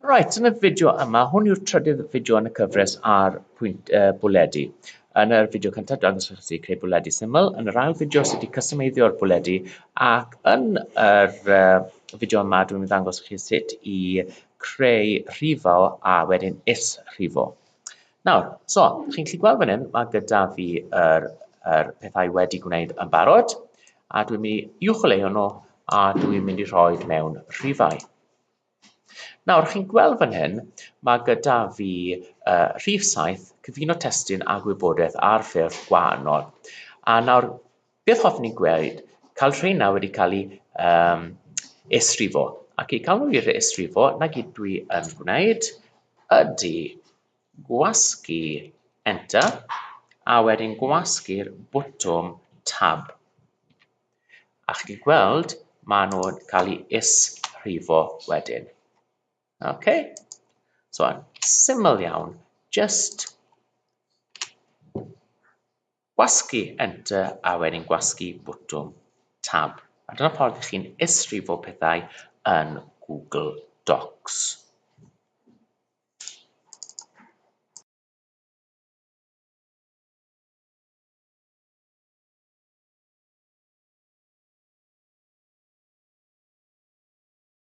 Right, yn y fideo yma, hwn yw'r trydydd fideo yn y cyfres ar pwynt uh, bwledi. Yn yr fideo cyntaf, dangos chi sut i creu bwledi syml. Yn yr ail fideo, sut i customeiddio'r bwledi. Ac yn yr uh, fideo yma, dwi'n ddangos chi sut i creu rhifo a wedyn is rhifo. Nawr, so, chi'n gallu gweld fan hyn, mae gyda fi yr, yr pethau wedi gwneud yn barod, a dwi'n mynd i uwcholeuo nhw, a dwi'n mynd i rhoi mewn rhifau. Nawr, chi'n gweld fan hyn, mae gyda fi uh, rhif 7, cyfuno testun a gwybodaeth ar ffurf gwahanol. A nawr, Beth hoffwn i gweld? Cael rheina wedi cael eu um, esrifo. Ac i cael nhw i'r esrifo, na gyd dwi yn gwneud ydy gwasgu Enter a wedyn gwasgu'r bwtwm Tab. A chi wedi gweld, maen nhw'n cael eu esrifo wedyn. OK? So, syml iawn, just Gwasgu Enter a wedyn gwasgu botwm Tab. A dyna'r ffordd i chi'n isrifo pethau yn Google Docs.